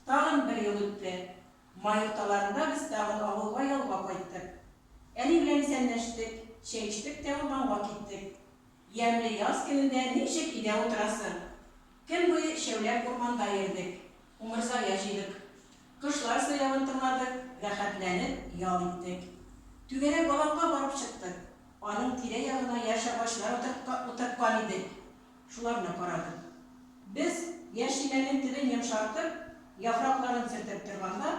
Тагын бер ел үтте. Май урталарында без тагын авылга ялга кайттык. Әни белән исәнләштек, чәй эчтек тә урманга киттек. Ямьле яз көнендә ничек өйдә утырасың? Көн буе өчәүләп урманда йөрдек, умырзая җыйдык. Кошлар сайравын тыңладык, рәхәтләнеп ял иттек. Түгәрәк аланга барып чыктык. Аның тирә-ягына яшь агачлар утырткан идек. Шуларны карадым. Без, яшелләрнең төбен йомшартып, яфракларын сөртеп торганда,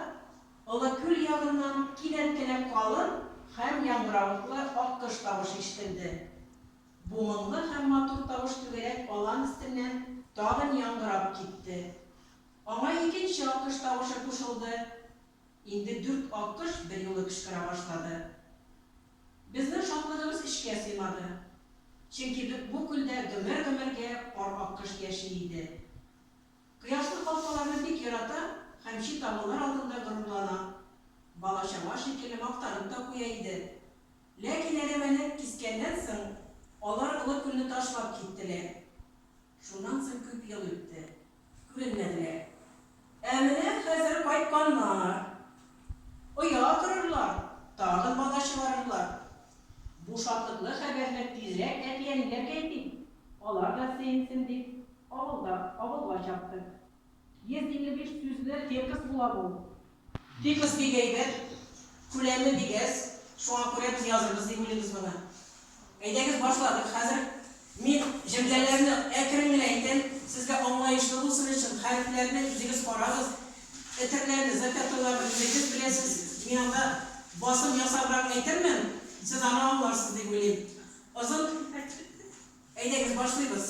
олы күл ягыннан кинәт кенә калын һәм яңгыравыклы аккош тавышы ишетелде. Бу моңлы һәм матур тавыш түгәрәк алан өстеннән тагын яңгырап китте. Аңа икенче аккош тавышы кушылды, Инде дүрт аккош берьюлы кычкыра башлады. Безнең шатлыгыбыз эчкә сыймады. Чөнки бу күлдә гомер-гомергә пар аккош яши иде. Кояшлы калфаларны бик ярата һәм чи тамырлар алдында горурлана, бала-чага шикелле мактанып та куя иде. Ләкин әрәмәне кискәннән соң, алар олы күлне ташлап киттеләр. Шуннан соң күп ел үтте. Күренмәделәр. Ә менә хәзер кайтканнар. Оя корырлар, тагын бала чыгарырлар. Бу шатлыклы хәбәрне тизрәк әти-әниләргә әйтик, алар да сөенсен дип, авылдан авылга чаптык. 155 сүзле текст була бу. Бу кыз бик әйбәт, күләме бик әз, шуңа күрә без язырбыз дип уйлыйбыз моны. Әйдәгез башладык хәзер. Мин җөмләләрне әкрен генә әйтәм, сезгә аңлаешлы булсын өчен, хәрефләрне үзегез карагыз, этерләрне, закятойларны үзегез беләсез, мин анда басым ясабрак әйтермен, сез аны аңларсыз дип уйлыйм. Озын Әйдәгез башлыйбыз.